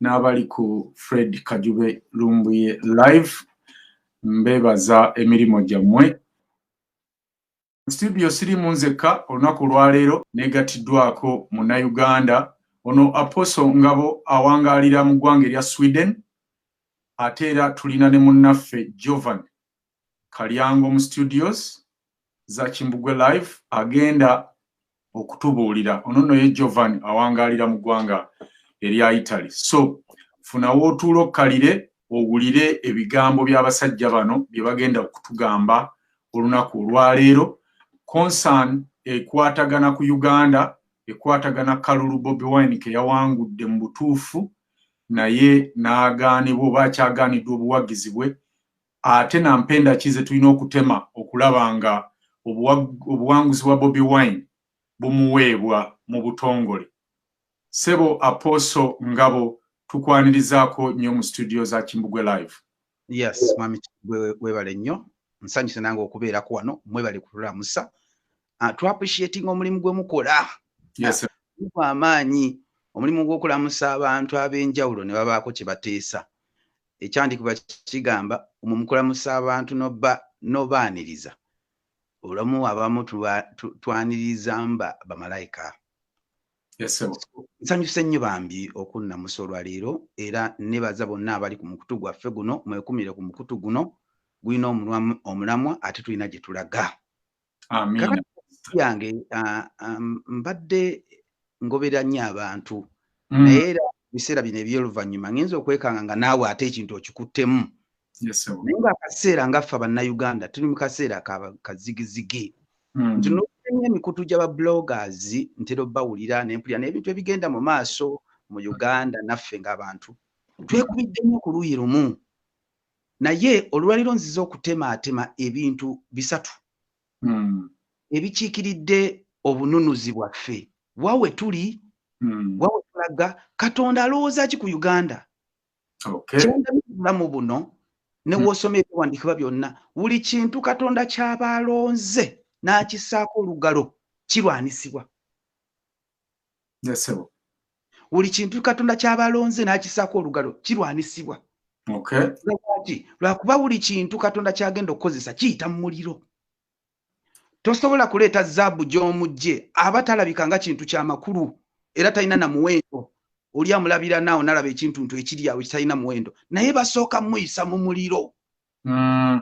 n'abali ku fred kajube lumbuye live mbebaza emirimu gyammwe studio sirimu nzekka olunaku olwaleero negatiddwako munauganda ono aposo ngabo awangaalira mu ggwanga erya sweden ate era tulina ne munnaffe jovan kalyango mu studios za kimbugwe live agenda okutubuulira ono nno ye jovan awangaalira mu ggwanga erya italy so funa wootuula okkalire owulire ebigambo by'abasajja bano bye bagenda okutugamba olunaku olwaleero concern ekwatagana ku uganda ekwatagana kalulu bobi wine ke yawangudde mu butuufu naye n'agaanibwa oba akyagaaniddwa obuwagizi bwe ate na mpenda ki zetulina okutema okulaba nga obuwanguzi bwa bobi wine bumuweebwa mu butongole sebo aposo ngabo tukwanirizaako nnyo mu studio za kimbugwe live yes mwami kimbugwe webale nnyo nsanyuse nange okubeerako wano mwebale kutulamusa ah, to appreciating omulimu gwe mukola yes, ah, amaanyi omulimu gw'okulamusa abantu ab'enjawulo ne babaako kye bateesa ekyandikuba kigamba omwo mukulamusa abantu n'obaaniriza olamu abamu twaniriza mba bamalayika nsanyuse nnyo bambi okunnamusa olwaleero era nebaza bonna abali ku mukutu gwaffe guno mwekumire ku mukutu guno gulina omulamwa ate tulina gye tulaga yange mbadde ngobera nnyo abantu mm. naye era biseera bino ebyoluvannyuma ngenza okwekanga nga naawe ate ekintu okikuttemu naye nga akaseera ngaffe abannayuganda tuli mu kaseera kazigizigi mm. nti nokuenya emikutu gyaba bloggers ntera obawulira nempulira n'ebintu ebigenda mu maaso mu uganda naffe ngaabantu twekubiddemu ku luuyi lumu naye olwaliro nzize okutemaatema ebintu bisatu hmm. ebikiikiridde obununuzi bwaffe wawe tuli hmm. wawe tulaga katonda alowooza ki ku uganda kyendabulamu buno newosoma hmm. ebiwandiikibwa byonna buli kintu katonda kyaba alonze n'akisaako olugalo kirwanisibwa yesebo buli kintu katonda kyabalonze n'akisaako olugalo kirwanisibwa lwaki lwakuba buli kintu katonda kyagenda okukozesa kiyita mu muliro tosobola kuleeta zaabu gy'omugje aba talabika nga kintu kya makulu era talina na muwendo oli amulabira naawo nalaba ekintuntu ekiri awo ekitalina muwendo naye basooka muyisa mu muliro mm.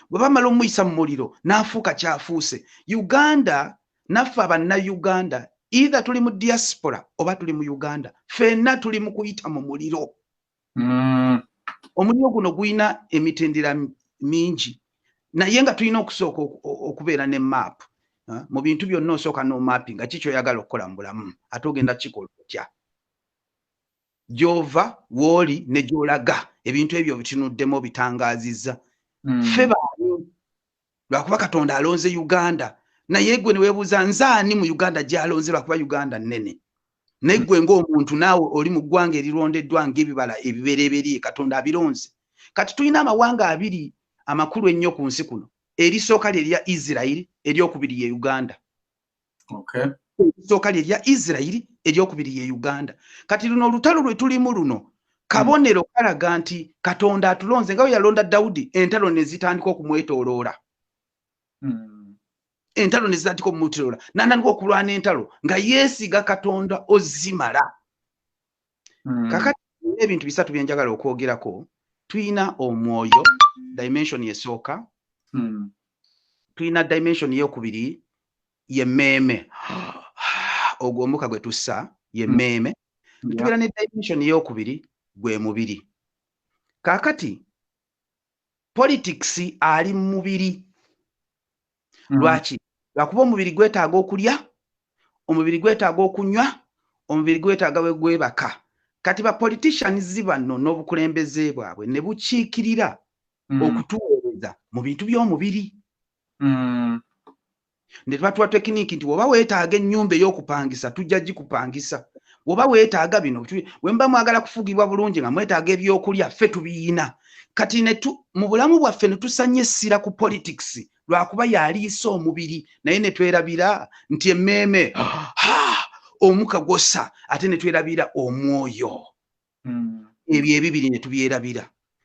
bwe bamala omuyisa mu muliro n'afuuka kyafuuse uganda naffe abanna uganda eitha tuli mu diaspora oba tuli mu uganda fenna tuli mu kuyita mu muliro mm. omuliro guno gulina emitendera mingi naye nga tulina okusooka okubeera ne maapu mu bintu byonna osooka n'omaapi nga kikyoyagala okukola mu bulamu ate ogenda kikola otya gy'ova w'oli ne gy'olaga ebintu ebyo obitunuddemu obitangaazizza hmm. ffe baani lwakuba katonda alonze uganda naye gwe ne weebuuza nze ani mu uganda gy'alonze lwakuba uganda nnene naye gwe ng'omuntu naawe oli mu ggwanga erirondeddwa ng'ebibala ebibereeberye katonda abironze kati tulina amawanga abiri amakulu ennyo ku nsi kuno erisooka lye lya isirairi eryokubiri ye uganda esooka lye lya isirairi eryokubiri ye uganda kati luno olutalo lwe tulimu luno kabonero kalaga nti katonda atulonze nga bwe yalonda dawudi entalo ne zitandika okumwetooloola hmm. entalo ne zitandika okumwetooloola n'atandika okulwana entalo nga yeesiga katonda ozimala hmm. kakati ebintu bisatu byenjagala okwogerako tuyina omwoyo dimension esooka hmm. tuyina dimension yokubiri yemeeme ogwo omuka gwe tussa yemeeme hmm. tubeera ne dimension yokubiri gwe mubiri kakati politics ali mumubiri mm. lwaki lwakuba omubiri gwetaaga okulya omubiri gwetaaga okunywa omubiri gwetaaga we gwebaka kati ba politicians bano n'obukulembeze bwabwe ne bukiikirira mm. okutuweereza mu bintu by'omubiri mm. ne tubatuwa tekiniki nti woba weetaaga ennyumba ey'okupangisa tujja gikupangisa woba weetaaga bino wemba mwagala kufugibwa bulungi nga mwetaaga ebyokulya ffe tubiyina kati netu mu bulamu bwaffe ne tusanya essira ku politics lwakuba yaliisa omubiri naye ne twerabira nti emmeeme omuka gwossa ate ne twerabira omwoyo hmm. ebyo ebibiri ne tubyerabira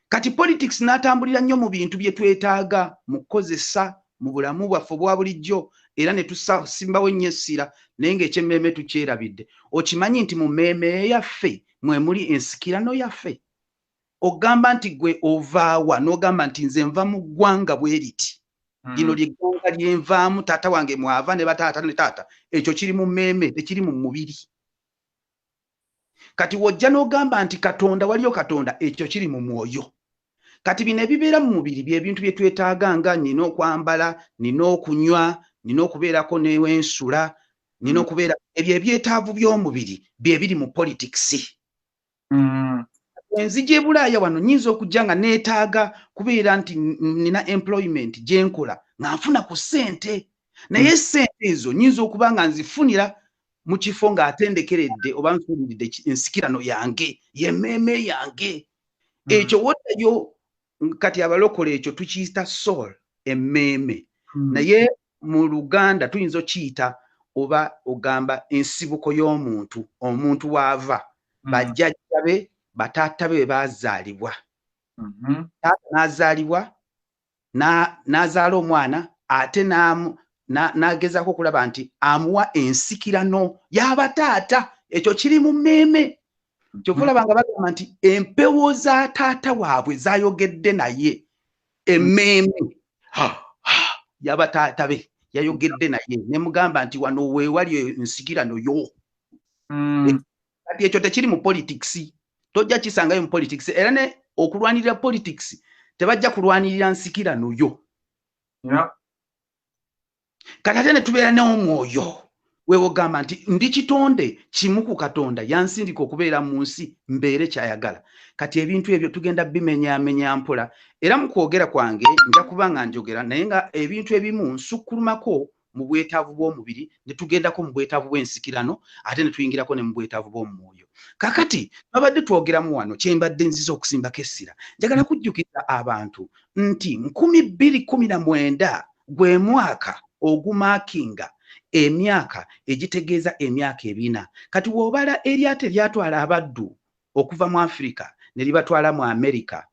kati politics n'atambulira nnyo mu bintu bye twetaaga mu kukozesa mu bulamu bwaffe obwa bulijjo era ne tusimbawo ennyo essira naye ng'ekyemmeeme tukyerabidde okimanyi nti mu mmeeme yaffe mwe muli ensikirano yaffe ogamba nti gwe ovaawa n'ogamba nti nze nva mu ggwanga bwe riti hmm. lino lye ggwanga lyenvaamu taata wange mwava ne bataata ne taata ekyo kiri mu mmeeme tekiri mu mubiri kati wojja n'ogamba nti katonda waliyo katonda ekyo kiri mu mwoyo kati bino ebibeera mu mubiri byebintu bye twetaaga nga nina okwambala nina okunywa nina okubeerako newensula nina hmm. okubeera ebyo ebyetaavu by'omubiri byebiri mu politikisi mm. enzija ebulaaya wano nyinza okujja nga neetaaga kubeera nti nina employment gyenkola nga nfuna ku ssente naye mm. sente ezo nyinza okuba nga nzifunira mu kifo ng'atendekeredde oba nsuuliridde ensikirano yange yemeeme yange mm. ekyo wotayo kati abalokole ekyo tukiyita soul emmeeme hmm. naye mu luganda tuyinza okiyita oba ogamba ensibuko y'omuntu omuntu waava hmm. bajjajja be bataata be bebaazaalibwa hmm. taata n'azaalibwa n'azaala omwana ate n'agezaako okulaba nti amuwa ensikirano y'abataata ekyo kiri mu mmeeme kyova olaba nga bagamba nti empewo za taata waabwe zayogedde naye emmeeme yaba taata be yayogedde naye nemugamba nti wano wewali ensigirano yo mm. eh, kati ekyo tekiri mu politics tojja kisangayo mu politics era ne okulwanirira politics tebajja kulwanirira nsikirano yo kati ate ne tubeera n'omwoyo wewogamba nti ndi kitonde kimu ku katonda yansindika okubeera mu nsi mbeere kyayagala kati ebintu ebyo tugenda bimenyamenya mpola era mu kwogera kwange nja kuba nga njogera naye nga ebintu ebimu nsukkulumako mu bwetaavu bw'omubiri ne tugendako mu bwetaavu bw'ensikirano ate ne tuyingirako ne mu bwetaavu bw'omu mwoyo kakati babadde twogeramu wano kye mbadde nziza okusimbako essira njagala kujjukiza abantu nti nkumi bbiri kumi na mwenda Gwe mwaka ogumakinga emyaka egitegeeza emyaka ebina. Kati wobala eryato eryatwala abaddu okuva mu Africa neribatwala mu America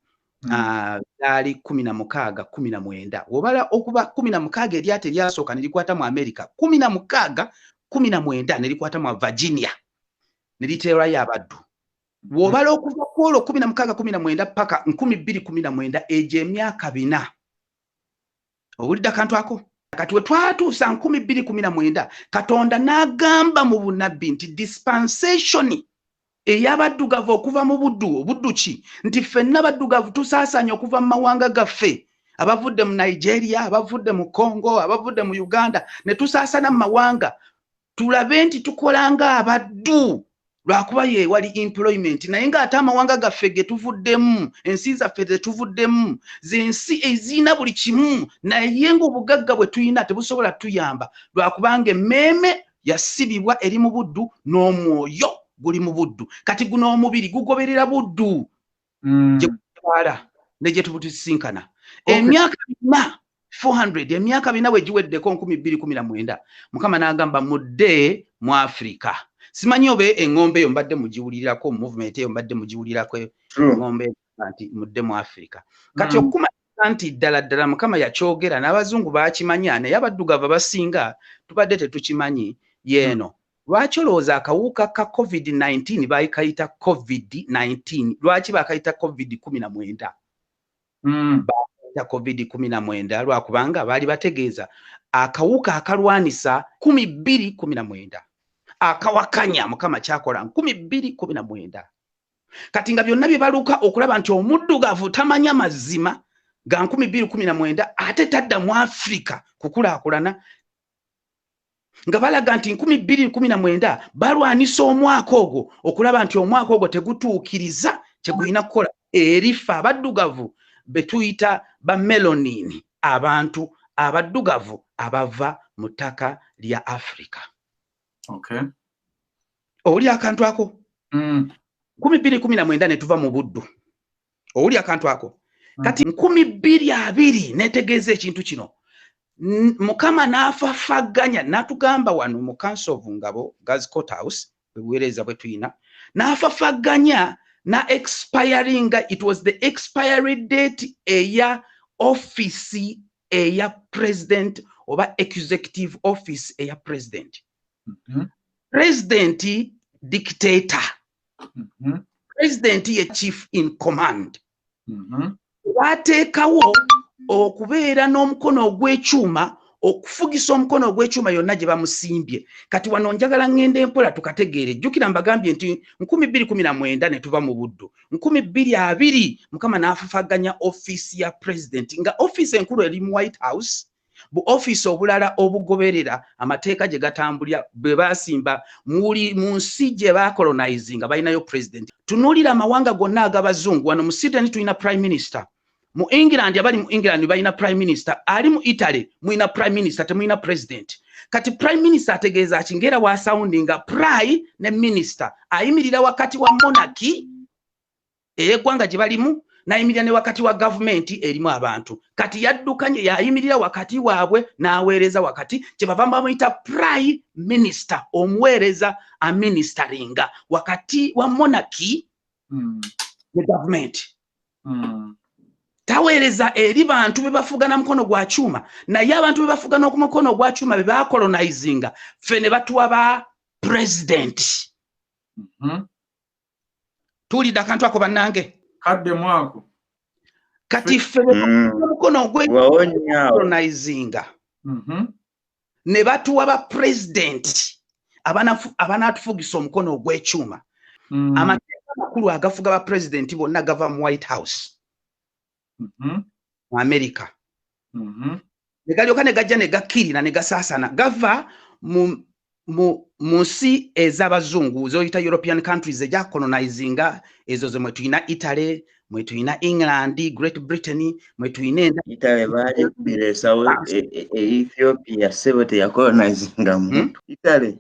hmm. ah, lyali mm. uh, kumi na mukaaga kumi na mwenda wobala okuba kumi na mukaaga eryato eryasooka nerikwata mu America kumi na mukaaga kumi na mwenda nerikwata mu Virginia neriteerayo abaddu wobala okuva kwolwo kumi na mukaaga kumi na mwenda paka nkumi bbiri kumi na mwenda egyo emyaka bina owulidde akantu ako kati we twatuusa nkumi bbiri kumi na mwenda katonda n'agamba mu bunabbi nti dispensation ey'abaddugavu okuva mu buddu obuddu ki nti ffenna baddugavu tusaasaanya okuva mu mawanga gaffe abavudde mu nigeria abavudde mu congo abavudde mu uganda ne tusaasana mu mawanga tulabe nti tukola nga abaddu lwakuba yewali employment naye nga ate amawanga gaffe getuvuddemu ensi zaffe zetuvuddemu zensi ezirina buli kimu naye nga obugagga bwe tulina tebusobola tuyamba lwakubanga emmeeme yasibibwa eri mu buddu n'omwoyo guli mu buddu kati guno omubiri gugoberera buddu mm. gyetwala ne gye tubutusisinkana emyaka bina 400 emyaka bina bwe giweddeko 219 mukama n'agamba mudde mu afirika simanyi oba eŋŋombe eyo mbadde mugiwulirako movement eyo mbadde mugiwulirako eŋŋombe nti mudde mu afirika kati mm. okukuma nti ddala ddala mukama yakyogera n'abazungu bakimanya naye abaddugavu abasinga tubadde tetukimanyi yeeno Lwaki olowooza akawuka ka covid nineteen bakayita covid nineteen lwaki bakayita covid kumi na mwenda mm. bakayita covid kumi na mwenda lwakubanga baali bategeeza akawuka akalwanisa kumi bbiri kumi na mwenda akawakanya mukama kyakola nkumi bbiri kumi na mwenda kati nga byonna bye baluka okulaba nti omuddugavu tamanya mazima ga nkumi bbiri kumi na mwenda ate tadda mu afirika kukulaakulana nga balaga nti nkumi bbiri nkumi na mwenda balwanisa omwaka ogwo okulaba nti omwaka ogwo tegutuukiriza kyegulina kukola erifa abaddugavu betuyita bamelonini abantu abaddugavu abava mu ttaka lya africa okay. oli akantu ako mm. kumi bbiri kumi na mwenda ne tuva mu buddu owulira akantu ako mm. kati nkumi bbiri abiri netegeeza ekintu kino mukama n'afafagganya n'atugamba wano mu council of ngabo gas court house ebuwereeza bwe tuyina n'afafagganya na expiring it was the expiry date eya office eya president oba executive office eya president mm -hmm. president dictator mm-hmm. president ye chief in command mm-hmm. wateekawo okubeera n'omukono ogw'ekyuma okufugisa omukono ogw'ekyuma yonna gye bamusimbye kati wano njagala ŋŋenda empola tukategeere jjukira mbagambye nti nkumi bbiri kumi na mwenda ne tuva mu buddu nkumi bbiri abiri mukama n'afafaganya ofiisi ya pulezidenti nga ofiisi enkulu eri mu white house bu ofiisi obulala obugoberera amateeka gye gatambulira bwe baasimba muli mu nsi gye baakolonizinga balinayo pulezidenti. Tunuulira amawanga gonna ag'Abazungu, wano mu Sydney tulina prime minister, mu England abali mu England balina prime minister, ali mu Italy mulina prime minister, temulina pulezidenti. Kati prime minister ategeeza ki? Ng'era waasawundinga pry ne minister, ayimirira wakati wa monarchy ey'eggwanga gye balimu n'ayimirira ne wakati wa gavumenti erimu abantu kati yaddukanye yayimirira wakati waabwe n'aweereza wakati kye bava bamuyita prime minister omuweereza aministeringa wakati wa monarchy hmm. ne gavumenti hmm. taweereza eri bantu be bafuga na mukono gwa kyuma naye abantu be bafuga n'oku mukono gwa kyuma be bakolonizinga ffe ne batuwa ba pulezidenti mm -hmm. tuwulidde akantu ako bannange kadde mwako kati ffe omukono mm. ogwecolonisnga mm-hmm. ne batuwa ba pulezidenti abanaatufugisa omukono ogw'ekyuma mm. amateeka amakulu agafuga ba pulezidenti bonna gava mu white house mm-hmm. mu amerika mm-hmm. ne galyoka ne gajja ne gakkirira ne gasaasana gava mu nsi ez'abazungu zoyita european countries ejacolonizinga ezo ze mwe tulina italy mwe tulina england great britain mwe tulina italy baali bireesawo e, e, e, ethiopia sebo teyacolonizinga hmm? muntu italy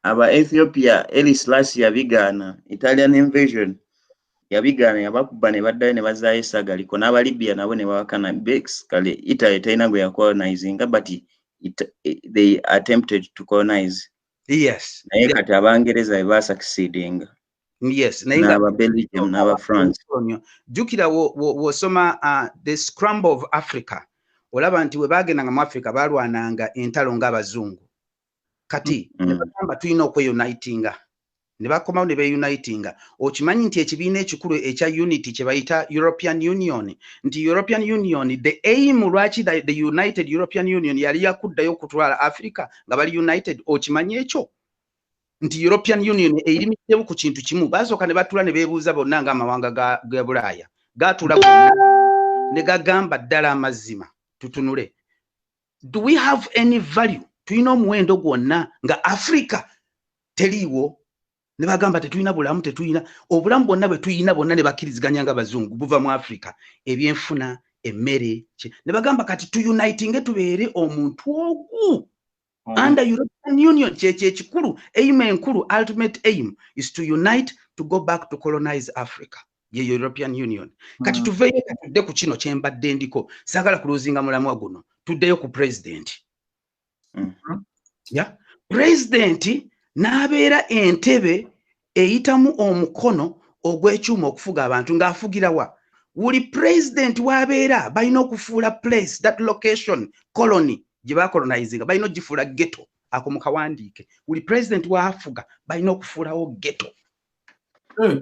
aba ethiopia elis lasi yabigaana italian invasion yabigaana yabakubba ne baddayo ne bazaayo essaga liko n'aba libya nabo ne babakana bex kale italy talina gwe yacolonizinga but it, it, eh, they attempted to colonize yes naye kati abangereza be basakisidinga yes naba belgium naba france jukira wosoma wo, wo uh, the scramble of africa olaba nti we bagendanga mu africa balwananga entalo nga abazungu kati mm-hmm. nebagamba tulina okweyunitinga nebakomawo nebeyunitinga okimanyi nti ekibiina ekikulu ekya unity kyebayita european union nti european union the aim lwaki the united european union yali yakuddayo okutwala africa nga bali united okimanyi ekyo nti european union eirimiddemu ku kintu kimu basooka ne batula ne bebuuza bonna nga amawanga ga bulaaya gatula gonna ne gagamba ddala amazima tutunule do we have any value tulina omuwendo gwonna nga africa teliiwo ne bagamba tetulina bulamu tetulina obulamu bwonna bwe tulina bwonna ne bakkiriziganya nga bazungu buva mu africa ebyenfuna emmere ne bagamba kati tuunitinge tubeere omuntu ogu mm. under european union kyekyo ekikulu aim enkulu ultimate aim is to unite to go back to colonize africa ye european union kati mm. tuveyo katudde ku kino kyembadde ndiko sagala kuluzinga mulamwa guno tuddeyo ku president mm -hmm. ya president n'abeera entebe eyitamu omukono ogw'ekyuma okufuga abantu ng'afugira wa wuli president w'abeera balina okufuula place that location colony gye bakolonizinga balina ogifuula geto ako mukawandiike wuli president waafuga balina okufuulawo geto hmm.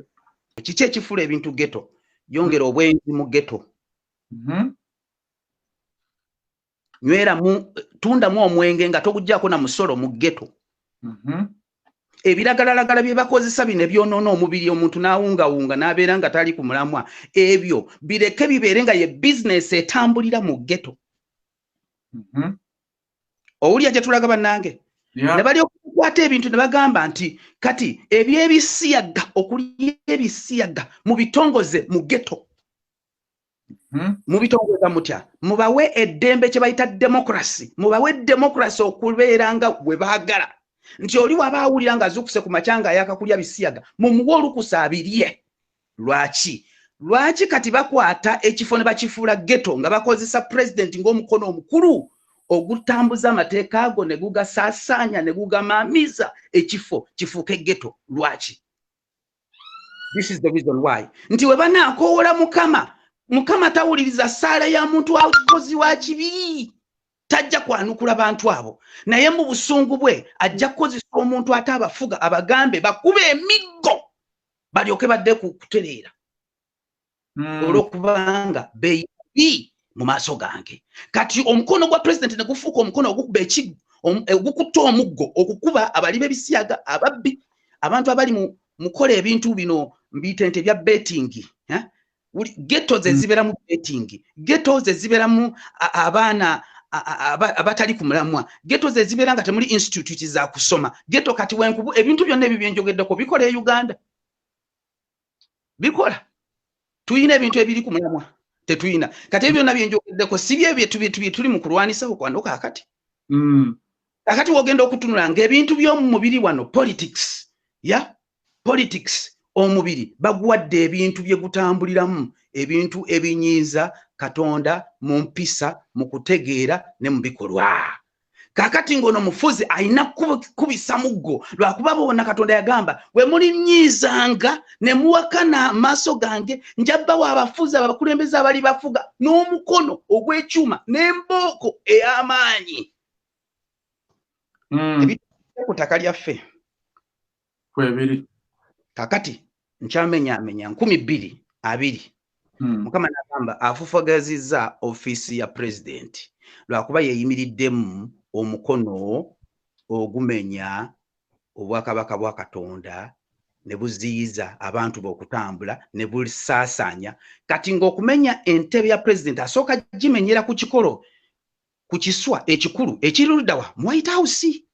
kiki ekifula ebintu geto yongera hmm. obwenzi mu geto mm-hmm. nywera mu tundamu omwenge nga togujjako na musolo mu geto mm-hmm. ebiragalalagala bye bakozesa bino ebyonoona omubiri omuntu n'awungawunga n'abeera nga tali ku mulamwa ebyo bireke bibeere nga ye bizinesi etambulira mu geto mm-hmm. owulya gyetulaga banange nebali okukwata ebintu nebagamba nti kati ebyebisiyaga okulya ebisiyaga mubitongoze mu geto hmm? mubitongoza mutya mubawe eddembe kyebayita demokrasi mubawe demokrasi okubeera nga webagala nti oli waba awulira nga azukuse ku makyanga ayakakulya bisiyaga mumuwe olukusa abirye Lwaki? Lwaki kati bakwata ekifo ne bakifuula ghetto nga bakozesa president ng'omukono omukulu ogutambuza amateeka ago ne gugasaasaanya ne gugamaamiza ekifo kifuuke ghetto? Lwaki? This is the reason why. Nti we banaakoowola Mukama, Mukama tawuliriza ssaala ya muntu wa mukozi wa kibi. tajja kwanukula bantu abo naye mu busungu bwe ajja kukozesa omuntu ate abafuga abagambe bakuba emiggo balyoke badde ku kutereera hmm. olwokubanga beyibi mu maaso gange kati omukono gwa pulezidenti ne gufuuka omukono ogukuba ekigo eh, ogukutta omuggo okukuba abali b'ebisiyaga ababbi abantu abali mu mukola ebintu bino mbiyita nti ebya betingi eh? geto ze mm. ziberamu betting geto ze ziberamu abaana abatali ku mulamwa geto ze zibeera nga temuli institute za kusoma geto kati wenkubu ebintu byonna ebyo byenjogeddeko bikola e uganda bikola tulina ebintu ebiri ku mulamwa tetulina kati ebyo byonna byenjogeddeko si byebyo tuli mu kulwanisawo kwanoka akati mm. kakati wogenda okutunula nga ebintu by'omumubiri wano politics ya politics omubiri baguwadde ebintu bye gutambuliramu ebintu ebinyiiza katonda mu mpisa mu kutegeera ne mu bikolwa kakati ng'ono mufuzi alina kubisa muggo lwakuba bona katonda yagamba we mulinyiizanga ne muwakana amaaso gange njabbawo abafuzi abakulembeze abali bafuga n'omukono ogw'ekyuma n'embooko ey'amaanyi e mm. ebitudde ku ttaka lyaffe kwebiri kakati nkyamenyaamenya nkumi bbiri abiri mm. mukama nagamba afufagazizza ofiisi ya pulezidenti lwakuba yeyimiriddemu omukono ogumenya obwakabaka bwa katonda ne buziyiza abantu be okutambula ne busaasaanya kati ng'okumenya entebe ya pulezidenti asooka gimenyera ku kikolo ku kiswa ekikulu ekiri ludawa mu white house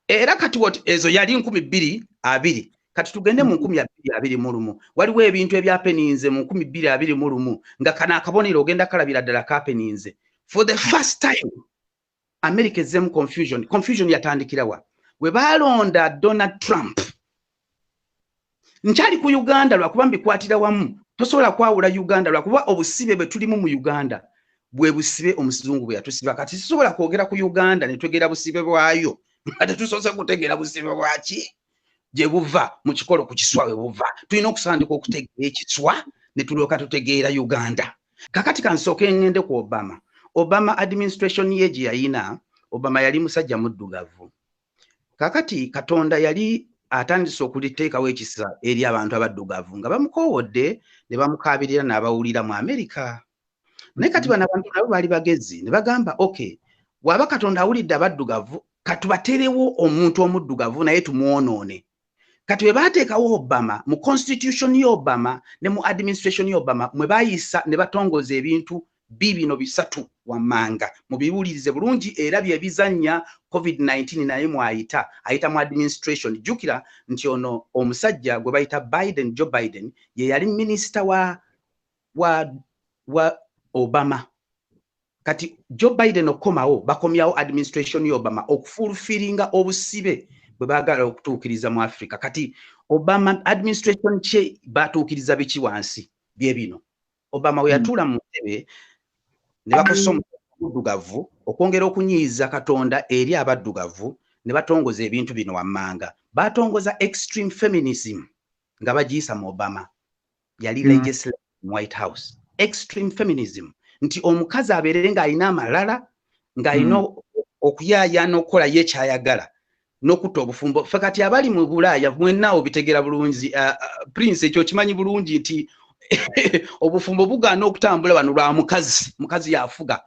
era kati wat ezo yali nkumi bbiri abiri kati tugende mu nkumi abiri abiri mu lumu waliwo ebintu ebyapeninze mu nkumi bbiri abiri mu lumu nga kana akabonero ogenda kalabira ddala kapeninze for the first time america ezzemu confusion confusion yatandikirawa we baalonda donald trump nkyali ku uganda lwakuba mbikwatira wamu tosobola kwawula uganda lwakuba obusibe bwe tulimu mu uganda bwe busibe omusizungu bwe yatusiba kati sisobola kwogera ku uganda ne twegera busibe bwayo nga tetusoose kutegeera busibe bwaki gye buva mu kikolo ku kiswa we buva tulina okusandika okutegeera ekiswa ne tulyoka tutegeera uganda kakati kansooka engende ku obama obama administration ye gye yayina obama yali musajja muddugavu kakati katonda yali atandise okuliteekawo ekisa eri abantu abaddugavu nga bamukoowodde ne bamukaabirira n'abawulira mu amerika naye kati bano abantu nabo baali bagezi ne bagamba ok bw'aba katonda awulidde abaddugavu katubaterewo omuntu omuddugavu naye tumwonoone kati bwe baateekawo obama mu constitution ya obama ne mu administration ya obama mwe bayisa ne batongoza ebintu bibino bisatu wammanga mubiwulirize bulungi era bye bizannya covid-19 naye mwayita ayita mu administration jjukira nti ono omusajja gwe bayita biden joe biden ye yali minisita wa, wa, wa obama kati joe biden okukomawo bakomyawo administration ya obama okufulfiringa obusibe bwe bagala okutuukiriza mu africa kati obama administration kye batuukiriza biki wansi bye bino obama weyatuula mu ntebe ne bakosa omuddugavu okwongera okunyiiza katonda eri abaddugavu ne batongoza ebintu bino wammanga batongoza extreme feminism nga bagiyisa mu obama yali mm. legislator mu white house extreme feminism nti omukazi abeerere ng'alina amalala ng'alina mm. okuyaya n'okukola ye kyayagala n'okutta obufumbo fe kati abali mu bulaaya mwenna obitegera bulungi uh, uh, prince ekyo kimanyi bulungi nti obufumbo bugaana okutambula bano lwa mukazi mukazi yafuga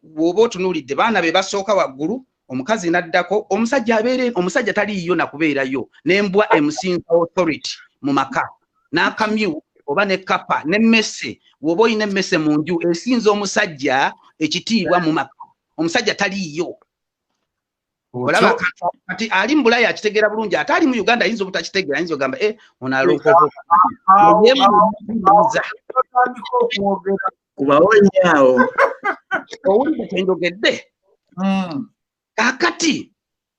bw'oba otunuulidde baana be basooka waggulu omukazi naddako omusajja abeere omusajja taliiyo nakubeerayo nembwa emusinza authority mu maka n'akamyu oba ne kapa nemmese woba olina emmese mu nju esinza omusajja ekitiibwa mu maka omusajja taliiyo olaba kati ali mu bulaya akitegeera bulungi ate ali mu uganda ayinza obutakitegeera ayinza ogamba e eh, onalokoza kubawonya awo owulidde kyenjogedde hmm. kakati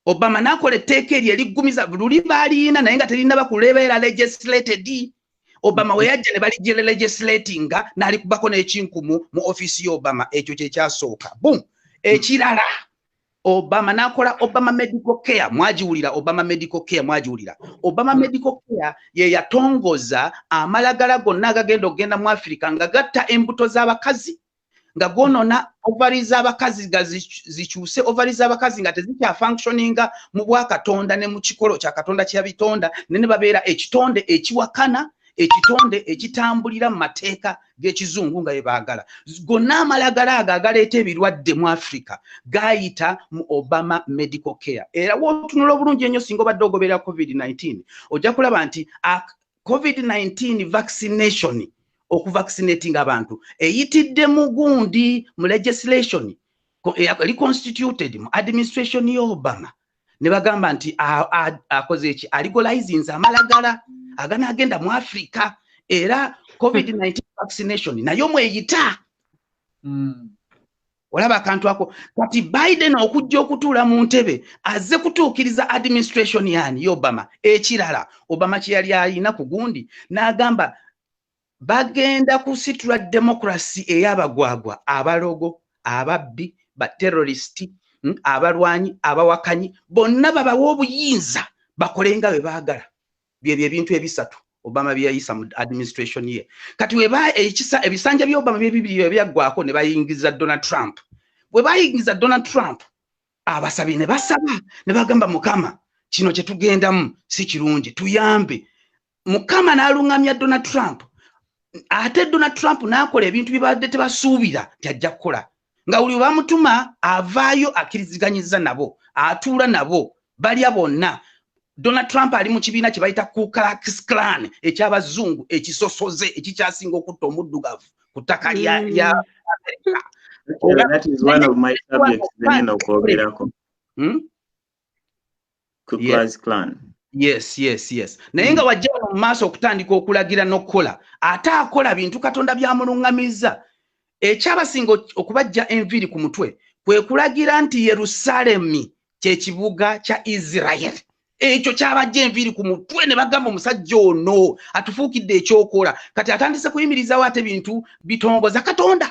obama nakola etteeka eryo eriggumiza luli baaliyina naye nga terina bakulebeera legislated obama weyajja ne balijjere legislatinga nalikubako n'ekinkumu mu ofiisi y'obama ekyo kyekyasooka bum ekirala obama nakola obama medical care mwagiwulira obama medical care mwagiwulira obama medical care ye yatongoza amalagala gonna agagenda okugenda mu afirika nga gatta embuto z'abakazi nga gwonona ovari z'abakazi nga zikyuse ovari z'abakazi nga tezikya functioninga mu bwakatonda ne mu kikolo kya katonda kyeyabitonda ne ne babeera ekitonde ekiwakana ekitonde ekitambulira mu mateeka gekizungu nga yebaagala gonna amalagala ago agaleeta ebirwadde mu africa gayita mu obama medical care era wotunula obulungi ennyo singa obadde ogoberera covid-19 ojja kulaba nti covid-19 vaccination okuvaccinating abantu eyitidde mu gundi mu legislation eli constituted mu administration ya obama ne bagamba nti akoze eki aligolizinze amalagala aganaagenda mu africa era covid-19 vaccination nayo mweyita hmm. olaba akantu ako kati biden okujja okutuula mu ntebe azze kutuukiriza administration yani ye obama ekirala obama kye yali alina ku gundi n'agamba bagenda kusitula demokrasi ey'abagwagwa abalogo ababbi baterorisiti hmm, abalwanyi abawakanyi bonna babawa obuyinza bakole nga bwe baagala byebyo ebintu ebisatu obama byeyayisa mu administration ye kati weba ekisa ebisanja bya obama byebibiri ebyaggwako ne bayingiza donald trump bwe bayingiza donald trump abasabye ne basaba ne bagamba mukama kino kye tugendamu si kirungi tuyambe mukama n'aluŋŋamya donald trump ate donald trump n'akola ebintu bye baadde tebasuubira nti ajja kukola nga buli bamutuma avaayo akkiriziganyiza nabo atuula nabo balya bonna Donald Trump ali mu kibiina kye bayita Ku Klux Klan eky'abazungu ekisosoze ekikyasinga okutta omuddugavu ku ttaka lya mm. lya Amerika. Hmm? Yes, yes, yes. Naye nga wajja wano mu maaso okutandika okulagira n'okukola ate akola bintu Katonda byamulungamizza ekyabasinga okubajja enviiri ku mutwe kwe kulagira nti Yerusaalemi kyekibuga kya israel ekyo kyabajja enviiri ku mutwe ne bagamba omusajja ono atufuukidde ekyokola kati atandise kuyimirizawo ate bintu bitongoza katonda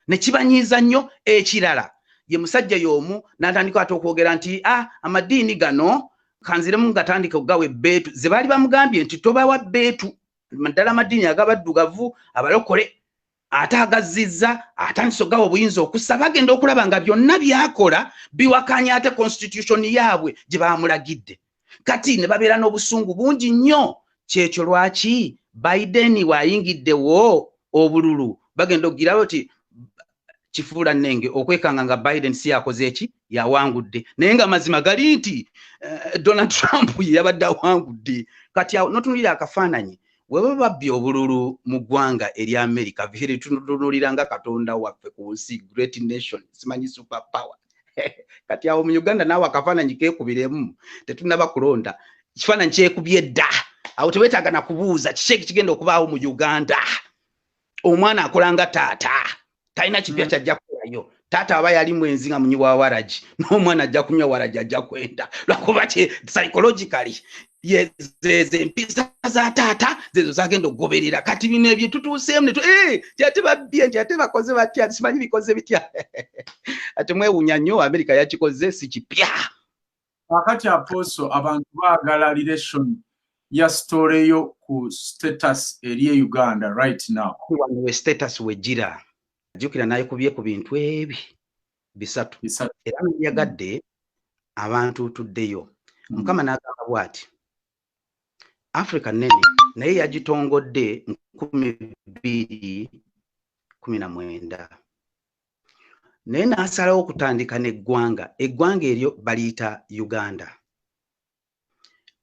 nekibanyiiza nnyo ekirala ye musajja y'omu natandika ate okwogera nti a ah, amadiini gano kanziremu ngatandika okugawa ebbeetu ze baali bamugambye nti tobawa bbeetu naddala amadiini agabaddugavu abalokole ate agazzizza atandise ogawa obuyinza okussa bagenda okulaba nga byonna byakola biwakanya ate constitution yaabwe gye baamulagidde kati ne babeera n'obusungu bungi nnyo kyekyo lwaki biden waayingiddewo obululu bagenda okugirawo ti kifuula nnenge okwekanga nga biden si yakoze eki yawangudde naye nga amazima gali nti eh, donald trump yeyabadde awangudde kati awo notunulira akafaananyi weba babbi obululu mu ggwanga eri america vihiri tunutunulira nga katonda waffe ku nsi great nation simanyi super power kati awo mu uganda naawe akafaananyi kekubiremu tetunaba kulonda ekifaananyi kyekubye dda awo tewetaaga na kubuuza kiki ekigenda okubaawo mu uganda omwana akola nga taata talina kipya mm. kyajja kukolayo taata aba yali mwenzi nga munyi wa waragi n'omwana ajja kunywa waragi ajja kwenda lwakuba ki psychologically zempisa za taata zezo zagenda okugoberera kati bino ebyo tutuuseemu netu eh, nti ate babbye nti ate bakoze batya simanyi bikoze bitya ate mwewunya nnyo amerika yakikoze si kipya Wakati aposo abantu baagala relation ya story yo ku status eri e Uganda right now. Wano we status we jira. Jukira naye kubye ku bintu ebi bisatu. Bisatu. Era yagadde abantu tuddeyo. Mm. Mukama n'agamba bwati. Africa nene naye yagitongodde nkumi bbiri kumi na mwenda. naye n'asalawo okutandika n'eggwanga eggwanga eryo baliyita uganda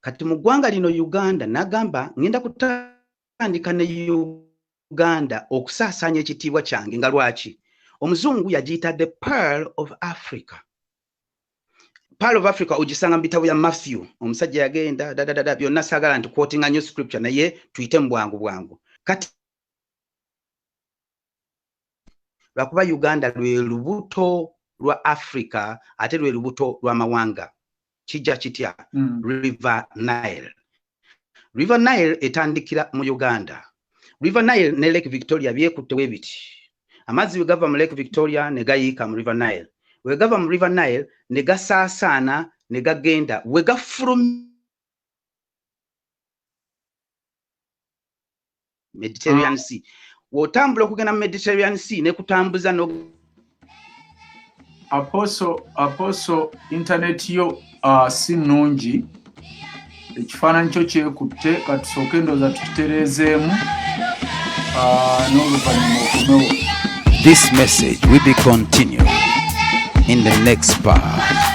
kati mu ggwanga lino uganda nagamba ngenda kutandika ne uganda okusaasaanya ekitiibwa kyange nga lwaki omuzungu yagiyita the pearl of africa pearl of africa ogisanga mu bitabo bya matthew omusajja yagenda dadadada byonna saagala nti quotinga nyo scripture naye tuyite mu bwangu bwangu kati lwakuba uganda lwe lubuto lwa africa ate lwe lubuto lw'amawanga kijja kitya mm. river nile river nile etandikira mu uganda river nile ne lake victoria byekutte we biti amazzi bwe gava mu lake victoria ne gayiika mu river nile we gava mu river nile ne gasaasaana ne gagenda we gafulumye mediterranean ah. sea wotambula okugenda mu mediterranean sea nekutambuza no aposo aposo internet yo uh, si nungi ekifaananyi kyo kyekutte katusooke endooza tukitereezeemu uh, n'oluvannyuma okomewo this message will be continued in the next part